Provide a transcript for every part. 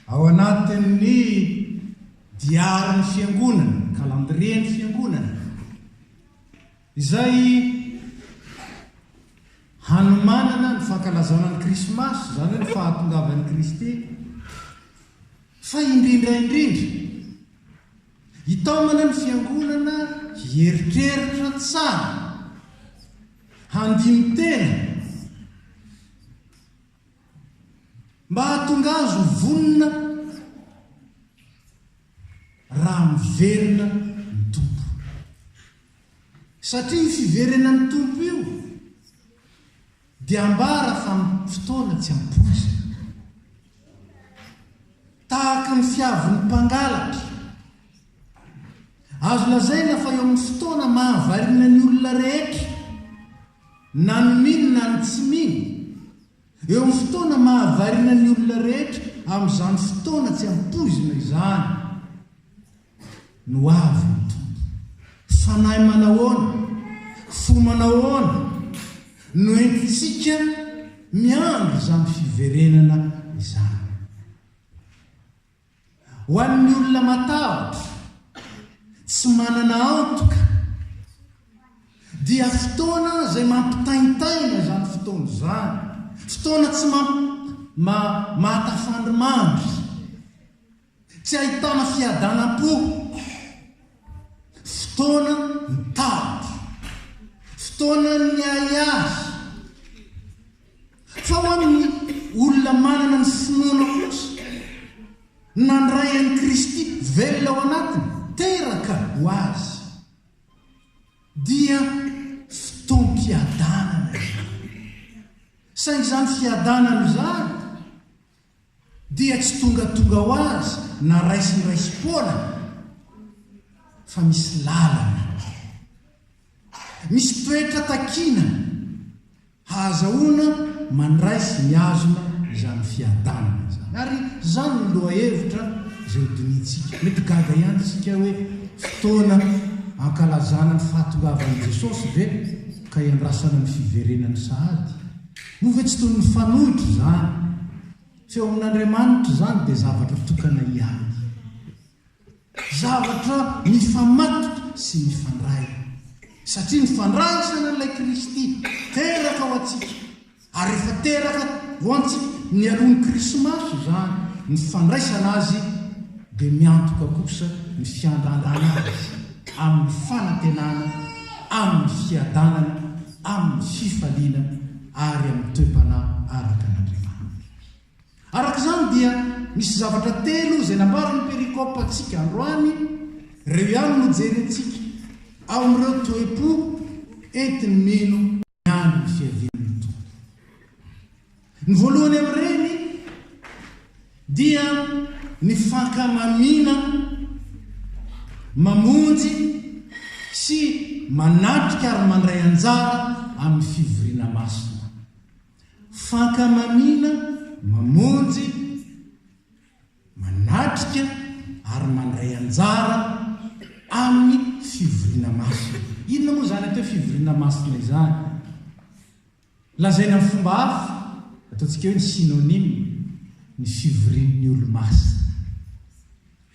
Ao anatin'ny diarin'ny Fiangonana, calendrier-n'ny Fiangonana, izay hanomanana ny fankalazana ny Krismasy, izany hoe ny fahatongavan'i Kristy, fa indrindra indrindra, hitaomana ny Fiangonana hieritreritra tsara, handini-tena, Mba hahatonga azy ho vonona raha miverina ny Tompo. Satria io fiverenan'ny Tompo io dia ambara fa amin'ny fotoana tsy ampoizina. Tahaka ny fiavin'ny mpangalatra, azo lazaina fa eo amin'ny fotoana mahavariana ny olona rehetra. Na ny mino na ny tsy mino, eo amin'ny fotoana mahavariana ny olona rehetra amin'izany fotoana tsy ampoizina izany no avy ny Tompo. Fanahy manahoana, fo manahoana no entintsika miandry izany fiverenana izany? Ho an'ny olona matahotra, tsy manana antoka, dia fotoana izay mampitaintaina izany fotoana izany, fotoana tsy ma, ma, mahatafandrimandry, tsy ahitana fiadanam-po, fotoana ny tahotra, fotoanan'ny ahiahy. Fa ho an'ny olona manana ny finoana kosa, nandray an'i Kristy velona ao anatiny, teraka ho Azy, dia fotoam-piadanana izany. Saingy izany fiadanana izany, dia tsy tongatonga ho azy na raisindraisim-poana fa misy lalana, misy toetra takiana hahazahoana mandray sy mihazona izany fiadanana izany. Ary izany no lohahevitra izay hodinihintsika. Mety gaga ihany isika hoe fotoana hankalazana ny fahatongavan'i Jesosy ve ka hiandrasana ny fiverenany sahady? Moa ve tsy toy ny fanohitra izany? Tsy eo amin'Andriamanitra izany dia zavatra tokana ihany. Zavatra mifamatotra sy mifandray. Satria ny fandraisan'Ilay Kristy teraka ho antsika, ary efa teraka ho antsika nialohan'ny Krismasy izany, ny fandraisana Azy dia miantoka kosa ny fiandrandràna Azy amin'ny fanantenana, amin'ny fiadanana, amin'ny fifaliana ary amin'ny toe-panahy araka an'Andriamanitra. Araka izany dia misy zavatra telo izay nambaran'ny perikopa antsika androany, ireo ihany no jerentsika ao amin'ireo toe-po entin'ny mino ny andron'ny fiavian'ny Tompo. Ny voalohany amin'ireny dia ny fankamamiana mamonjy sy manatrika ary mandray anjara amin'ny fivoriana masina. Fankamamiana mamonjy, manatrika ary mandray anjara amin'ny fivoriana masina. Inona moa izany atao hoe fivoriana masina izany? Lazaina amin'ny fomba hafa, ataontsika hoe ny synonyme, ny fivorian'ny Olomasina.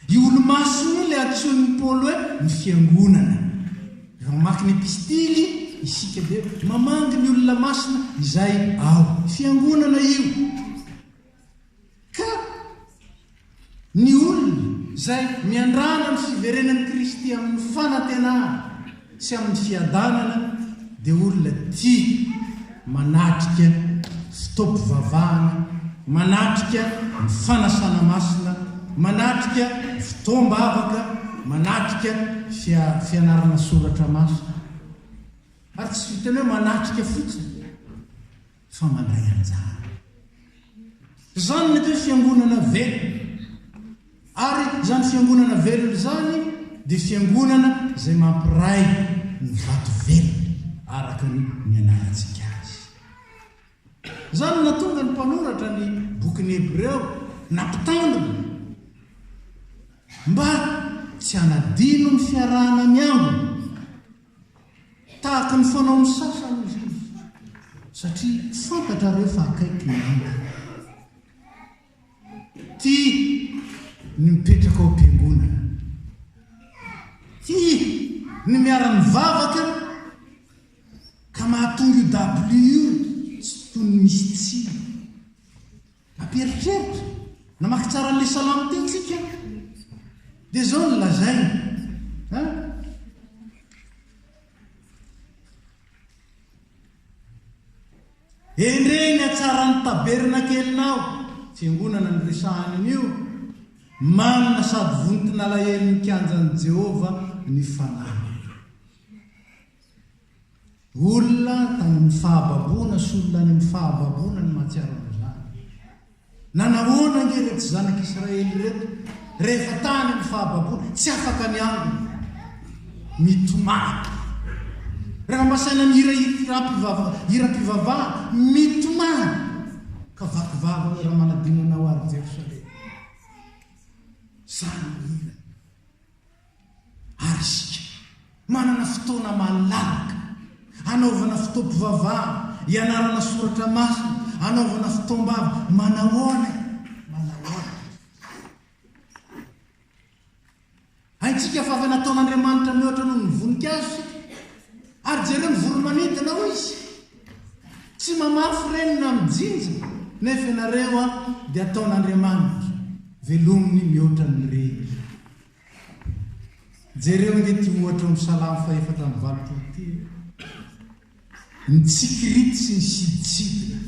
Io Olomasina io ilay antsoin'i Paoly hoe ny fiangonana. Raha mamaky ny Epistily isika dia mamangy ny olona masina izay ao. Fiangonana io. Ka ny olona izay miandrana ny fiverenan'i Kristy amin'ny fanantenana sy amin'ny fiadanana dia olona tia manatrika fotoam-pivavahana, manatrika ny fanasana masina, manatrika fotoam-bavaka, manatrika fianarana soratra masina. Ary tsy vitan'ny hoe manatrika fotsiny. fa mandray anjara. Izany ny atao hoe fiangonana velona. Ary izany fiangonana velona izany dia fiangonana izay mampiray ny vato velona araka ny nianarantsika azy. Izany no nahatonga ny mpanoratra ny bokin'ny Hebreo nampitandrina mba tsy hanadino ny fiarahana miangona Tahaka ny fanaon'ny sasany hoy izy, satria fantatrareo fa akaiky ny andro. Tia ny mipetraka ao am-piangonana. Tia ny miara-mivavaka ka mahatonga io dabilio io tsy tony misy tsiny. Ampieritreritra, namaky tsara an'ilay salamo teo tsika, dia izao no lazainy an. Endrey ny hatsaran'ny tabernakelinao, fiangonana no resahany anio, manina sady vonton'alahelon'ny kianjan'i Jehovah ny fanahy. Olona tany amin'ny fahababoana sy olona any amin'ny fahababoana no mahatsiaro an'izany. Na nahoana ange ireto zanak'Israely ireto, rehefa tany amin'ny fahababoana, tsy afaka ny angona. Mitomany. Raha mba saina ny hira hiram-pivavahana, mitomany. Ka vaky vava hoe raha manadino anao ary Jerosalema. Izany ny hirany. Ary isika? Manana fotoana malalaka hanaovana fotoam-pivavahana, hianarana soratra masina, hanaovana fotoam-bava. Manahoana e? Manahoana? Haintsika fa avy nataon'Andriamanitra mihoatra noho ny voninkazo isika. Ary jereo ny voromanidina, hoy izy. Tsy mamafy reny na mijinja nefa ianareo a dia ataon'Andriamanitra velominy mihoatra ny reny. Jereo nge ity ohatra omy salamo fahefatra amby valopolo ity e. Ny tsikirity sy ny siditsidina.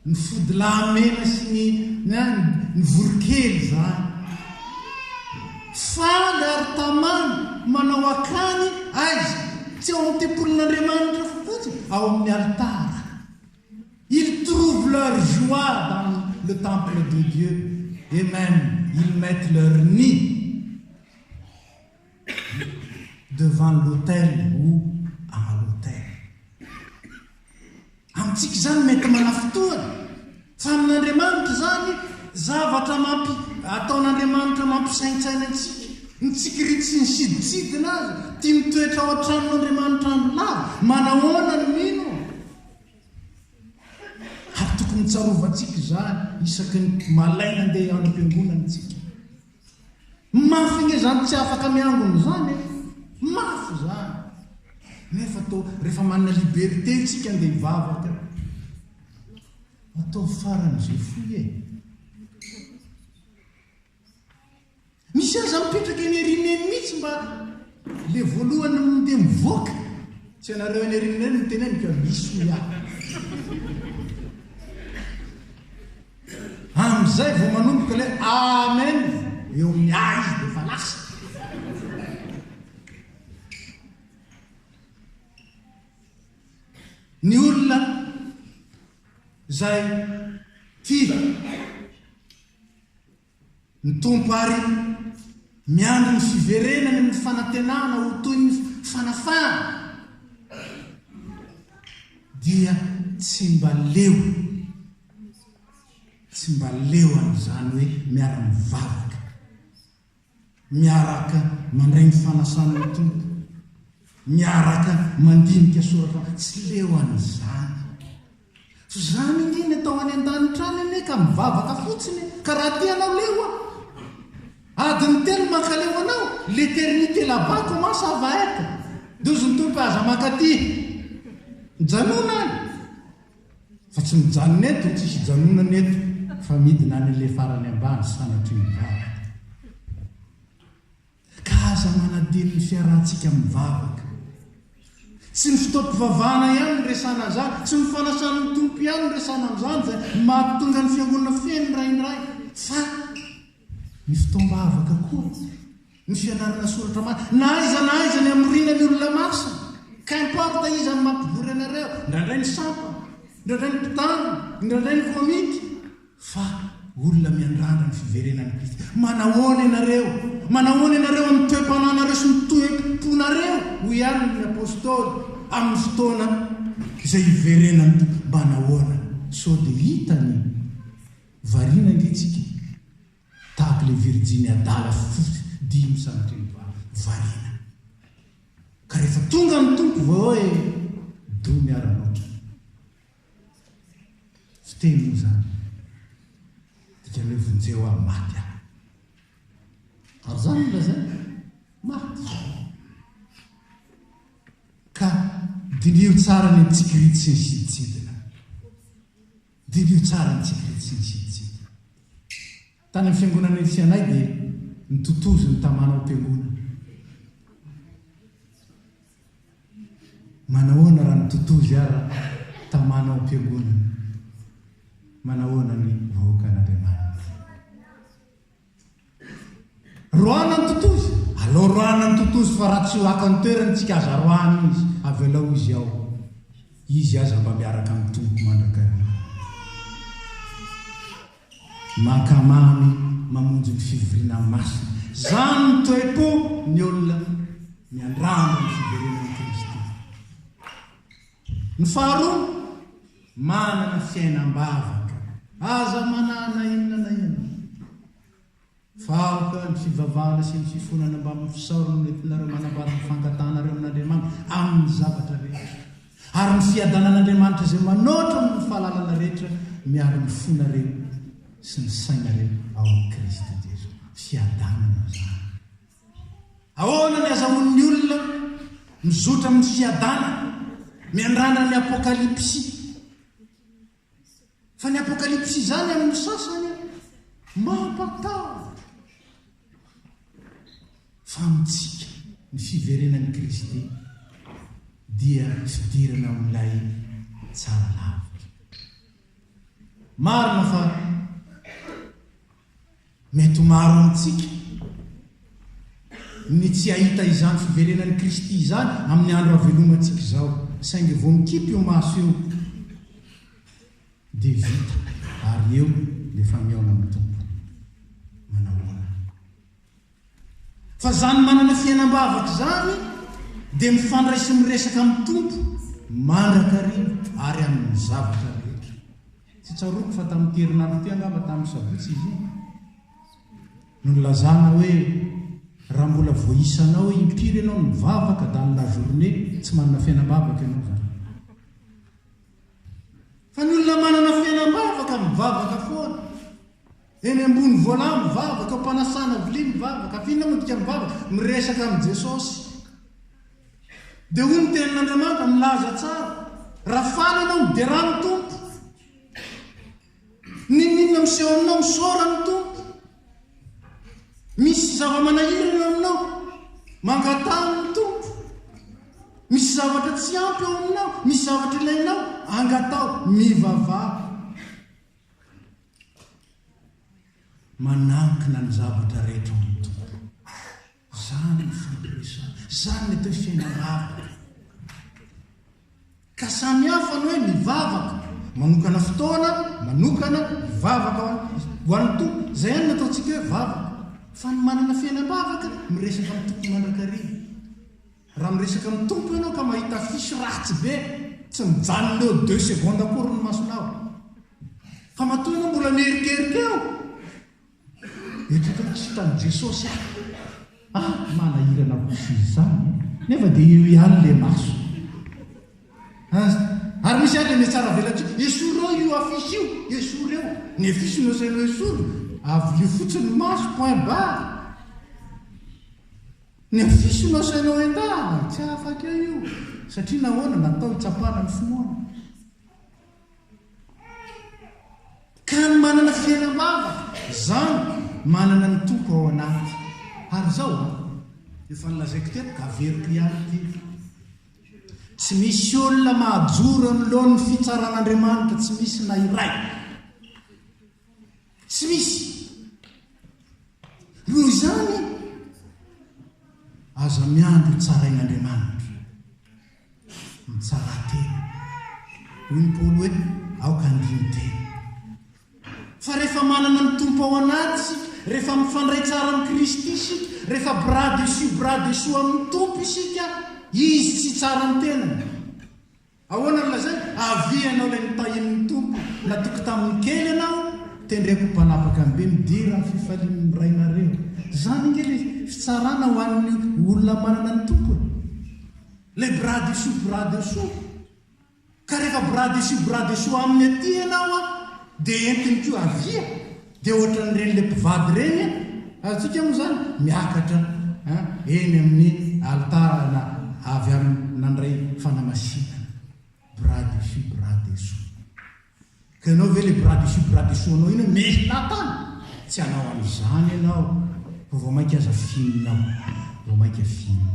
Ny fodilahy mena sy ny na ny voronkely izany. Faly ary tamana manao akany aiza? Tsy ao amin'ny tempolin'Andriamanitra fotsiny, ao amin'ny alitara. Ils trouvent leur joie dans le temple de Dieu et même ils mettent leur nid. devant l'autel ou à l'autel. Amintsika izany mety manafintohina, fa amin'Andriamanitra izany zavatra mampi, ataon'Andriamanitra mampisaintsaina antsika. Ny tsikiritsiny sidintsidina aza, tia mitoetra ao an-tranon'Andriamanitra andro lava, manahoana ny mino? Ary tokony tsarovantsika izany isaky ny malaina andeha hiandry am-piangonana isika. Mafy nge zany tsy afaka miangona zany e! Mafy zany! Nefa toa refa manana liberté tsika nde hivavaka e! Ataovy farany ze foy e! Misy aza mipetraka eny Erina eny mitsy mba le voalohany mnde mivoaka! Tsy anareo any Erina any no teneniko a! Misy hoy aho! Amin'izay vao manomboka ilay amen eo amin'ny a izy dia efa lasa. Ny olona izay tia Ny Tompo ary miandry ny fiverenany amin'ny fanantenana ho toy ny fanafahana, dia tsy mba leo, tsy mba leo an'izany hoe miara-mivavaka, miaraka mandray ny fanasana ny Tompo, miaraka mandinika soratra, tsy leo an'izany. Tsy izany ange ny atao any an-danitra any anie ka mivavaka fotsiny e! Ka raha te hanao leo a! Adiny telo mankaleo hanao l'éternité là-bas comment ça va être? Dozy ny Tompo e aza mankaty! Mijanona any! Fa tsy mijanona eto, tsisy hijanonana eto fa midina any le farany ambany sanatria ny bala. Ka aza manadino ny fiarahantsika mivavaka. Tsy ny fotoam-pivavahana ihany no resahana an'izany, tsy ny fanasan'ny Tompo ihany no resahana amin'izany izay mahatonga ny Fiangonana feno indraindray, fa ny fotoam-bavaka koa, ny fianarana soratra masina, na aiza na aiza ny hamoriana ny olona masina, qu'importe iza no mampivory anareo, indraindray ny sampana, indraindray ny mpitandrina, indraindray ny komity. Fa olona miandrandra ny fiverenan'i Kristy. Manahoana ianareo? Manahoana ianareo amin'ny toe-panahinareo sy ny toe-ponareo? Hoy àry ny apostoly, Amin'ny fotoana izay hiverenan'ny Tompo, mba nahoana? Sao dia hita ny variana ange tsika, tahaka ilay virjiny adala fofofy dimy sanatria ny variana. Ka rehefa tonga ny Tompo, vao hoe, Doa miara-motra. Fiteny moa izany. Dikan'ny hoe vonjeo aho, maty aho. Ary izany no lazainy, maty. Ka diniho tsara ny tsikirity sy ny sidintsidina. Diniho tsara ny tsikirity sy ny sidintsidina. Tany amin'ny fiangonana etsy anay dia nitotozy ny tamana ao piangonana. Manahoana raha mitotozy ara tamana ao piangonana? Manahoana ny vahoakan'Andriamanitra? Roahana ny totozy? Aleo roahana ny totozy fa raha tsy ho ato an-toerany tsika aza roahana izy, avelao izy ao. Izy aza mba miaraka amin'ny Tompo mandrakariva. Mankamamy mamonjy ny fivoriana masina. Izany ny toe-po ny olona miandrandra ny fiverenan'i Kristy. Ny faharoa, manana fiainam-bavaka. Aza manana inona na inona. Vahoka, ny fivavahana sy ny fifonana mbamin'ny fisaorana no entinareo manambara ny fangatanareo amin'Andriamanitra amin'ny zavatra rehetra, ary ny fiadanan'Andriamanitra izay manoatra noho ny fahalalana rehetra miaro ny fonareo sy ny sainareo ao amin'i Kristy Jesoa. Fiadanana izany. Ahoana ny azahoan'ny olona mizotra amin'ny fiadanana miandrandra ny Apokalypsy? Fa ny apokalypsy izany amin'ny sasany an, mampatahotra. Fa amintsika, ny fiverenan'i Kristy dia fidirana amin'ilay tsara lavitra. Marina fa. Mety ho maro amintsika ny tsy hahita izany fiverenan'i Kristy izany amin'ny andro havelomantsika izao, saingy vao mikipy io maso io dia vita ary eo dia efa mihaona amin'ny Tompo. Manahoana? Fa zany manana fiainam-bavaka izany dia mifandray sy miresaka amin'ny Tompo mandrakariva ary amin'ny zavatra rehetra. Tsy tsaroako fa tamin'ity herinandro ity angamba tamin'ny sabotsy izy iny no nilazana hoe raha mbola voaisanao impiry ianao no mivavaka dans la journée tsy manana fiainam-bavaka ianao izany. Fa ny olona manana fiainam-bavaka mivavaka foana. Eny ambony voalà mivavaka, eo am-panasana vilia mivavaka, afa inona moa dikany mivavaka? miresaka amin'i Jesosy. Dia hoy ny tenin'Andriamanitra, milaza tsara, Raha faly ianao, miderà ny Tompo. N'inon'inona miseho aminao, misaora ny Tompo. Misy zava-manahirana eo aminao, mangataha ny Tompo. Misy zavatra tsy ampy eo aminao, misy zavatra ilainao, angataho, mivavaha. Manankina ny zavatra rehetra ao amin'ny Tompo. Izany ny fampiresana. Izany ny atao hoe fiainam-bavaka. Ka samy hafa ny hoe mivavaka. Manokana fotoana, manokana, mivavaka ho an'ny Tompo. Izay ihany no ataontsika hoe vavaka. Fa ny manana fiainam-bavaka miresaka amin'ny Tompo mandrakariva. Raha miresaka amin'ny Tompo ianao ka mahita affiche ratsy be, tsy mijanona eo deux secondes akory ny masonao. Fa matoa ianao mbola mierikerika eo, mieritreritra hoe tsy hitan'i Jesosy aho. Ah, manahirana kosa izy izany e! Nefa dia eo ihany ilay maso. As, ary misy ary ilay mihatsaravelatr'io, esorao io affiche io, esory eo. Ny affiche no asainao esory, avio fotsiny ny maso, point barre. Ny afisy no asainao entahana? Tsy afaka io, satria nahoana? Natao hitsapana ny finoana. Ka ny manana fiainam-bavaka, izany, manana ny Tompo ao anaty. Ary izao an! Efa nolazaiko teto ka averiko ihany ity, tsy misy olona mahajoro anoloan'ny fitsaran'Andriamanitra, tsy misy na iray. Tsy misy. Noho izany, aza miandry ho tsarain'Andriamanitra. Mitsara tena. Hoy ny Paoly hoe, aoka handino tena. Fa rehefa manana ny Tompo ao anaty isika, rehefa mifandray tsara amin'i Kristy isika, rehefa bras dessus bras dessous amin'ny Tompo isika, Izy tsy hitsara ny tenany. Ahoana no lazainy? Avia ianao ilay notahian'ny Tompo, natoky tamin'ny kely ianao, tendreko ho mpanapaka ny be, midera ny fifalian'ny rainareo. Izany ange ilay fitsarana ho an'ny olona manana ny Tompo e! Ilay bras dessus bras dessous. Ka rehefa bras dessus bras dessous aminy aty ianao dia entiny koa avia. Dia ohatran'ireny le mpivady ireny an! Azontsika moa izany miakatra an, eny amin'ny alitara avy amin'ny nandray fanamasinana. Bras dessus bras dessous. Ka ianao ve le bras dessus bras dessous anao iny hoe mehilahy tany? Tsy hanao an'izany ianao, fa vao mainka aza finina ao, vao mainka finina.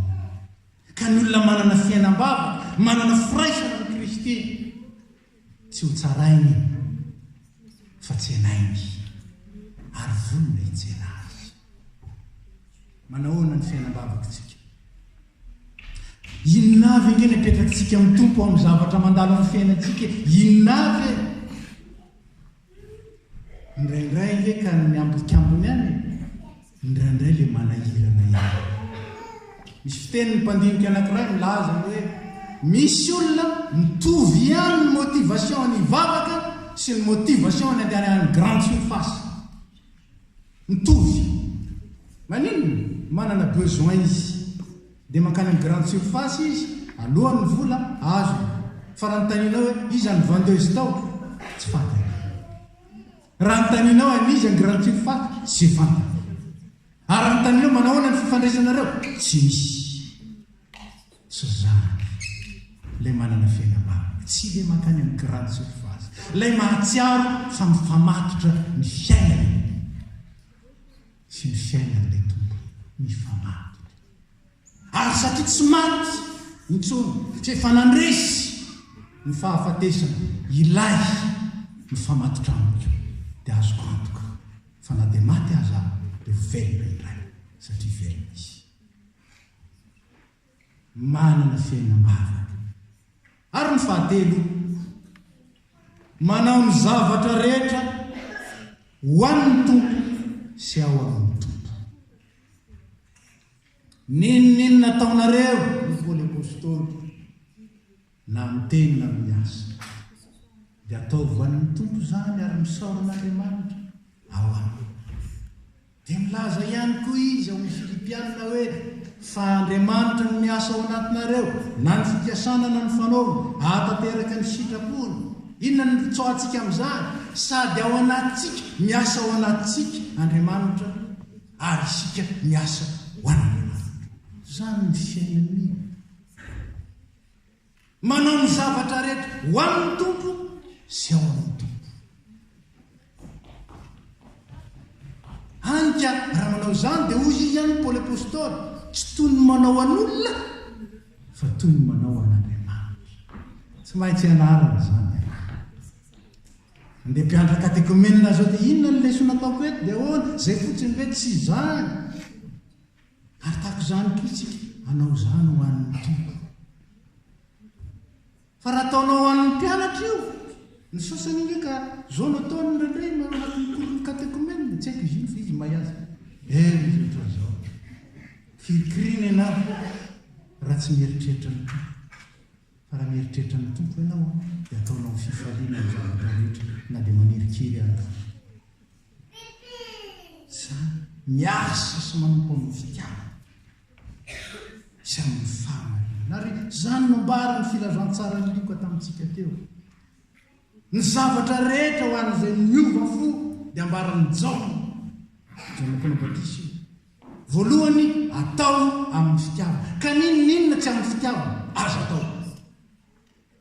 Ka ny olona manana fiainam-bavaka, manana firaisana amin'i Kristy, Tsy ho tsarainy fa tsenainy ary vonona hitsena azy. Manahoana ny fiainam-bavako tsika? Inona avy ange ny apetrakitsika amin'ny Tompo amin'ny zavatra mandalo amin'ny fiainantsika? Inona avy e? Indraindray nge ka ny ambikambony any e! Indraindray le manahirana ihany. Misy fiteny ny mpandinika anakiray milaza hoe misy olona mitovy ihany ny motivation ny hivavaka sy ny motivation ny handehanany any grande surface. Mitovy. Maninona? Manana besoin izy dia mankany amin'ny grande surface izy aloany ny vola azony fa raha notanianao hoe iza ny vendeuse tao? tsy fantany. Raha notanianao an'iza ny grande surface? tsy fantany. Ary raha notanianao manahoana ny fifandraisanareo? tsy misy. Tsy zany. Ilay manana fiaina marina. Tsy ilay mankany amin'ny grande surface. Ilay mahatsiaro fa mifamatotra ny fiainany sy ny fiainan'ilay tompony. Mifamatotra. Ary satria tsy maty intsony, fa efa nandresy ny fahafatesana ilay mifamatotra amiko, dia azoko antoka fa na dia maty aza aho, dia ho velona indray, satria velona izy. manana fiainam-bavaka. Ary ny fahatelo, manao ny zavatra rehetra ho an'ny Tompo sy ao amin'ny Tompo. N'inon'inona ataonareo, hoy Paoly Apostoly, Na miteny na miasa. Dia ataovy ho an'ny Tompo izany ary misaora an'Andriamanitra ao aminy. Dia milaza ihany koa izy ao amin'ny Filipiana hoe, Fa Andriamanitra no miasa ao anatinareo, na ny fikasana na ny fanaovana, hahatanteraka ny sitrapony. Inona no iritsoantsika amin'izany? Sady ao anatintsika, miasa ao anatintsika Andriamanitra, ary isika miasa ho an'Andriamanitra. Izany ny fiainan'ny. Manao ny zavatra rehetra ho an'ny Tompo sy ao amin'ny Tompo. Hany ka raha manao izany dia hoy izy any Paoly Apostoly, tsy toy ny manao an'olona fa toy ny manao an'Andriamanitra. Tsy maintsy anarana izany. Andeha mpianatra katekomenina izao dia inona ny lesoa nataoko eto dia ahoana? Izay fotsiny ve tsy izany? Ary tahaka izany koa isika, hanao izany ho an'ny Tompo. Fa raha ataonao ho an'ny mpianatra io, ny sasany ange ka izao no ataony indraindray manao anatin'ny cours-n'ny katekomena, tsy haiko izy iny fa izy mahay azy. Eh, izy ohatra izao. Kirikirina ianao raha tsy mieritreritra ny Tompo. Fa raha mieritreritra ny Tompo ianao, dia ataonao fifaliana ny zavatra rehetra na dia manirikiry aza. Izany, miasa sy manompo amin'ny fitiavana sy amin'ny fahamarinana. Ary izany no ambaran'ny filazantsaran'i Lioka tamintsika teo. Ny zavatra rehetra ho an'izay niova fo dia ambaran'i Jaona, Jaona Mpanao Batisa io. Voalohany, atao amin'ny fitiavana. Ka n'inon'inona tsy amin'ny fitiavana, aza atao.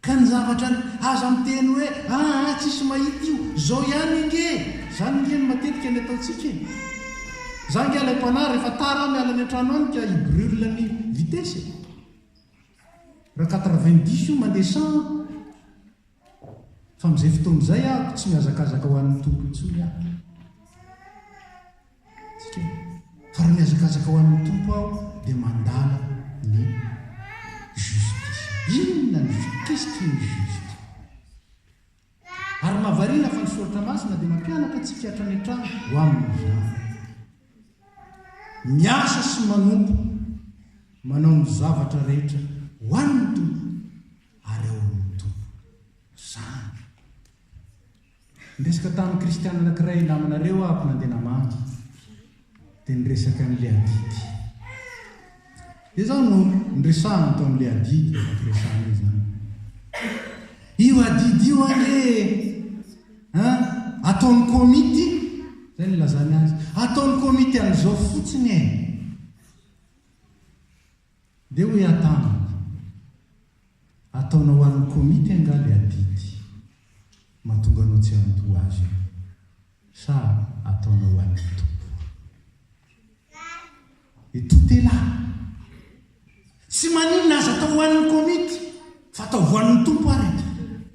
Ka ny zavatra ry aza miteny hoe aa tsisy mahita io, zao ihany ange e! Zany ange no matetika ny ataontsika e! Za ange ilay mpanahy rehefa tara aho miala any antrano any ka i brule ny vitesse e! Raha quatre vingt dix io mandeha cent an! Fa amin'izay fotoana izay aho tsy mihazakazaka ho any Toky intsony aho. Ka raha mihazakazaka ho an'ny Tompo aho dia mandala ny justice. Inona ny ju qu'est-ce qui est juste? Ary mahavariana fa ny Soratra Masina dia mampianatra antsika hatrany hatrany ho amin'izany. Miasa sy manompo, manao ny zavatra rehetra ho an'ny Tompo ary ao amin'ny Tompo. Izany. Niresaka tamin'ny kristiana anankiray ry namanareo aho nandeha namangy, dia niresaka an'ilay adidy. Dia izao no niresahany tao amin'ilay adidy efa firesahana izany. Io adidy io anie ataon'ny komity, izay nilazany azy, ataon'ny komity an'izao fotsiny e. Dia hoy aho taminy, Ataonao ho an'ny komity angaha ilay adidy mahatonga anao tsy handoa azy io, sa ataonao ho an'ny Tompo? Et tout est là! Tsy maninona aza atao ho an'ny komity, fa atao ho an'ny Tompo ary ity.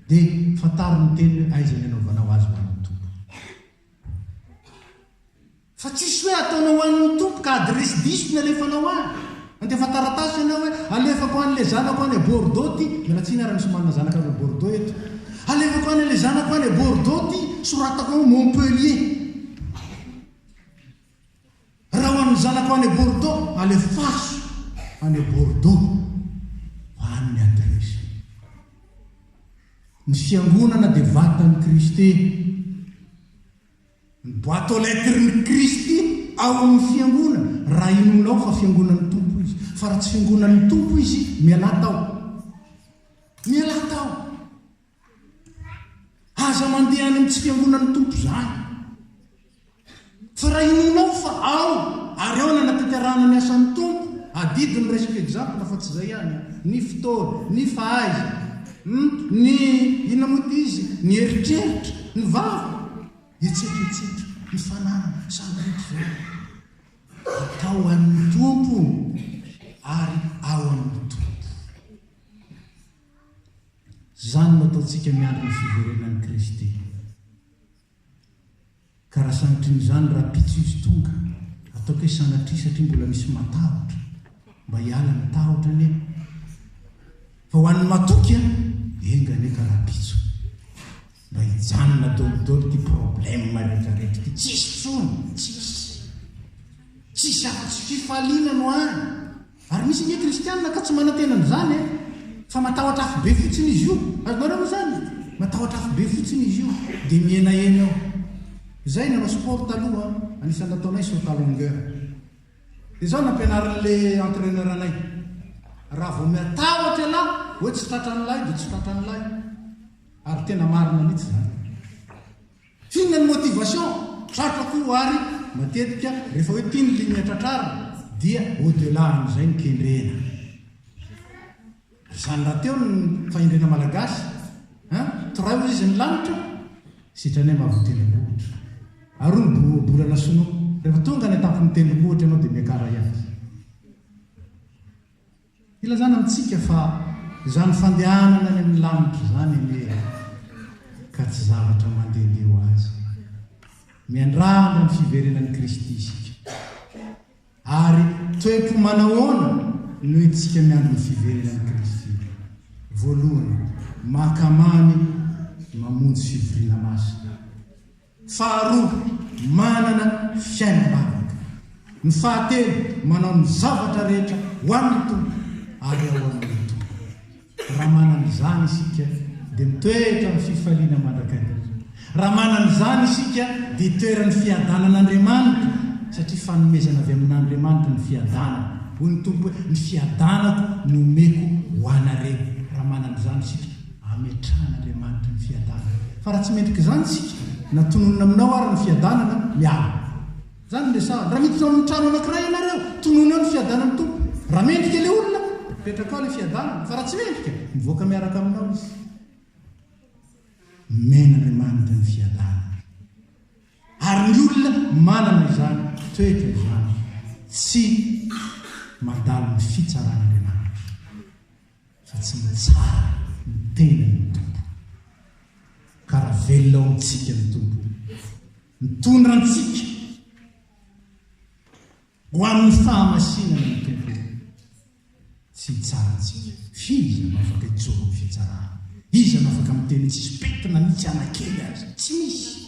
Dia fantaro ny teniny hoe aiza ny anaovanao azy ho an'ny Tompo. Fa tsisy hoe ataonao ho an'ny Tompo ka adiresy diso ny alefanao any. Handefa taratasy ianao hoe alefako any le zanako any à Bordeaux ty, miala tsiny ary misy manana zanaka avy à Bordeaux eto. Alefako any le zanako any à Bordeaux ty, soratako ao Montpellier. Raha ho an'ny zanako any à Bordeaux, alefaso any à Bordeaux fa any ny adiresy. Ny fiangonana dia vatan'i Kristy. Ny boite aux lettres ny Kristy ao amin' ny Fiangonana raha inoanao fa Fiangonan' ny Tompo izy. Fa raha tsy Fiangonan' ny Tompo izy, mialà tao. Mialà tao. Aza mandeha any amin' ny tsy Fiangonan' ny Tompo izany. Fa raha inoanao fa ao ary ao no anatanterahana ny asan' ny Tompo, adidy ny resaka exemple fa tsy izay ihany an, ny fotoana, ny fahaiza, Humm ny inona moa ity izy ny eritreritra, ny vava, hetsika hetsika, ny fananana, sambiriko voaly. Atao an'ny Tompo ary ao amin'ny Tompo. Izany no ataontsika miandry ny fiverenan'i Kristy. Ka raha sanatria izany rahampitso izy tonga, ataoko hoe sanatria satria mbola misy matahotra, mba hiala ny tahotra anie fa ho an'ny matoky a, enga anie ka rahampitso mba hijanona daholo ity problème rehetrarehetra ity, tsisy tsony, tsisy, tsisy afa-tsy fifaliana no any. Ary misy ange kristianina ka tsy manantena an'izany e! Fa matahotra afobe fotsiny izy io! Azonareo moa izany? Matahotra afobe fotsiny izy io dia mihenahena eo. Izahay nanao sport taloha, anisan'ny nataonay saut à longueur. Dia izao nampianarin'ilay entraineur anay, raha vao miatahotra ialahy hoe tsy tratran'ilay dia tsy tratran'ilay. Ary tena marina mihitsy izany. Inona ny motivation? Tratra koa ary matetika rehefa hoe ity ny ligne tratrarina dia au delà an'izay ny kendrena. Ry izany rahateo ny fahendrena malagasy an! Torahy hoy izy ny lanitra sitranay mahavoa tendrombohitra. Aroa ny bo bolana sinoa. Rehefa tonga any an-tampon'ny tendrombohitra ianao dia miakara ihany. Ilazana amintsika fa izany fandehanana any amin'ny lanitra izany anie ka tsy zavatra mandehandeha ho azy. Miandrandra ny fiverenan'i Kristy isika. Ary toe-po manahoana no entintsika miandry ny fiverenan'i Kristy? Voalohany, mahakamamy mamonjy fivoriana masina. Faharoa, manana fiainam-bavaka. Ny fahatelo, manao ny zavatra rehetra ho an'ny Tompo ary ao amin'ny Tompo. Raha manana izany isika, dia mitoetra amin'ny fifaliana mandrakariva. Raha manana izany isika, dia itoeran'ny fiadanan'Andriamanitra, satria fanomezana avy amin'Andriamanitra ny fiadanana. Hoy ny Tompo hoe, Ny fiadanako no omeko ho anareo. Raha manana izany isika. ametrahan'Andriamanitra ny fiadanana. Fa raha tsy mendrika izany isika, na tononina aminao ary ny fiadanana, miala aminao. Izany no resahana. Raha miditra ao amin'ny trano anankiray ianareo, tonony ao ny fiadanan'ny Tompo. Raha mendrika ilay olona, apetraka ao ilay fiadanana. Fa raha tsy mendrika, mivoaka miaraka aminao izy. Omen'Andriamanitra ny fiadanana. Ary ny olona manana izany, toetra izany, tsy mandalo ny fitsaran'Andriamanitra. fa tsy mitsara ny tenany ny Tompo, ka raha velona ao amintsika ny Tompo, mitondra antsika ho amin'ny fahamasinana ny Tompo, tsy hitsara antsika. Iza no afaka hijoro amin'ny fitsarana? Iza no afaka miteny tsisy petina na mitsy anakely aza? Tsy misy.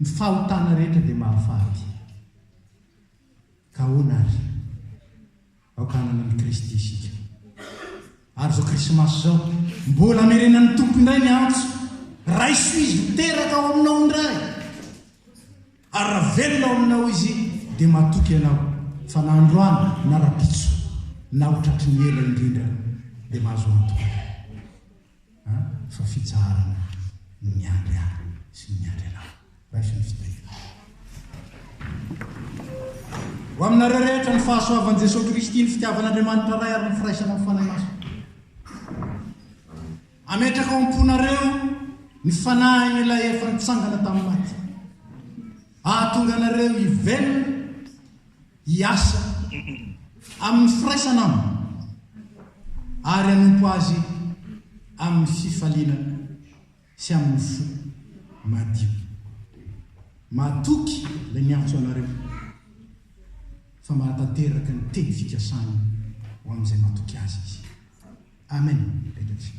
Ny fahotana rehetra dia mahafaty. Ka ahoana àry? Aoka hanana an'i Kristy isika. Ary izao Krismasy izao, mbola hamerenan'ny Tompo indray ny antso, Raiso Izy ho teraka ao aminao indray! Ary raha velona ao aminao Izy, dia matoky ianao fa na androany na rahampitso, na ho tratry ny ela indrindra, dia mahazo antoka. a fa fitsaharana no miandry ahy sy ny miandry anao raisin'ny fitahiana ho aminareo rehetra ny fahasoavan'i Jesoa Kristy ny fitiavan'Andriamanitra Ray ary ny firaisana amin'ny Fanahy Masina ametraka ao am-ponareo ny fanahin'ilay efa nitsangana tamin'ny maty ahatonga anareo hivelona Hiasa amin'ny firaisana aminy ary hanompo azy amin'ny fifaliana sy amin'ny fo madio. Matoky ilay miantso anareo fa manatanteraka ny teny fikasany ho amin'izay matoky azy izy. Amen. Rehetra isika.